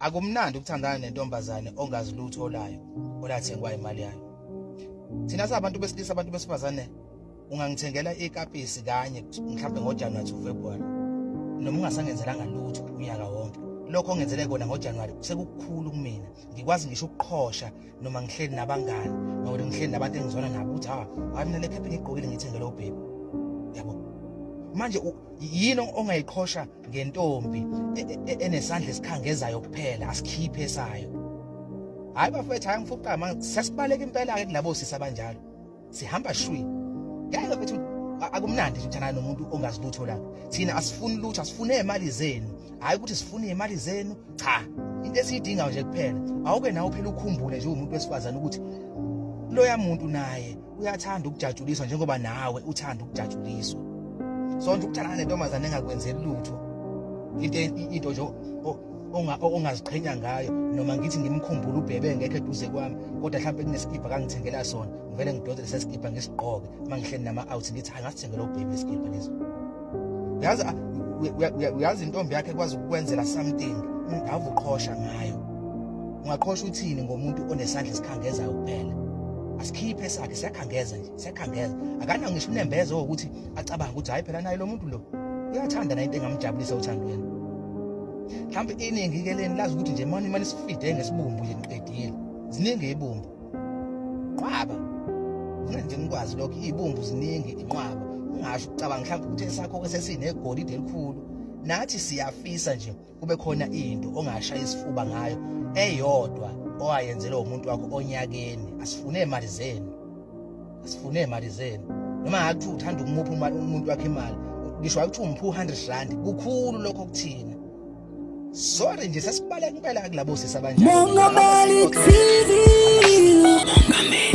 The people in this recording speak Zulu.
Akumnandi ukuthandana nentombazane ongazi lutho olayo olathengwa imali yayo. Thina sabantu besilisa abantu besifazane ungangithengela ikapisi kanye mhlawumbe ngoJanuary to February noma ungasangenzelanga lutho unyaka wonke. Lokho ongenzele kona ngoJanuary sekukhulu kumina. Ngikwazi ngisho ukuqhosha noma ngihleli nabangani noma ngihleli nabantu engizona nabo ukuthi ha, hayi mina le cap ngigqokile ngithengele ubhebi. Yabo. Manje yini ongayiqhosha ngentombi e, e, e, enesandla esikhangezayo kuphela asikhiphe esayo hayi bafethu hayi ngifuqa manje sesibaleka impela ke kulabo sisi abanjalo sihamba shwi ngeke bethu akumnandi ukuthana nomuntu ongazi lutho la thina asifuni lutho asifune imali zenu hayi ukuthi sifune imali zenu cha into esiyidinga nje kuphela awuke nawe phela ukhumbule nje umuntu wesifazana ukuthi loya muntu naye uyathanda ukujatshuliswa njengoba nawe uthanda ukujatshuliswa sonke ukuthandana nentombazane engakwenzeli lutho into into nje ongaziqhenya ngayo noma ngithi ngimkhumbula ubhebe ngekho eduze kwami kodwa mhlawumbe kunesikipa kangithengela sona ngivele ngidonse lesesikibha ngisigqoke uma ngihleli nama-out ngithi angasithengela ubhebe lesikibha leso yazi uyazi intombi yakhe kwazi ukukwenzela something ungava uqhosha ngayo ungaqhosha uthini ngomuntu onesandla esikhangezayo kuphela asikhiphe sakhe siyakhangeza nje siyakhangeza akana ngisho unembeza ukuthi acabanga ukuthi hayi phela naye lo muntu lo uyathanda nayo into engamjabulisa uthandweni mhlawumbe iningi ke leni lazi ukuthi nje mani imali sifide ngesibumbu nje niqedile ziningi ibumbu nqwaba mina nje ngikwazi lokho iy'bumbu ziningi inqwaba ungasho ucabanga mhlawumbe ukuthi esakho ke sesinegolide elikhulu nathi siyafisa nje kube khona into ongashaya isifuba ngayo eyodwa owayenzelwe umuntu wakho onyakeni asifune imali zenu asifune imali zenu noma ngathi uthanda ukumupha umuntu wakhe imali ngisho wakuthi umphu 100 rand kukhulu lokho kuthina Sorry nje sesibaleka impela kulabo sisi abanjani. Mongameli TV. Mongameli.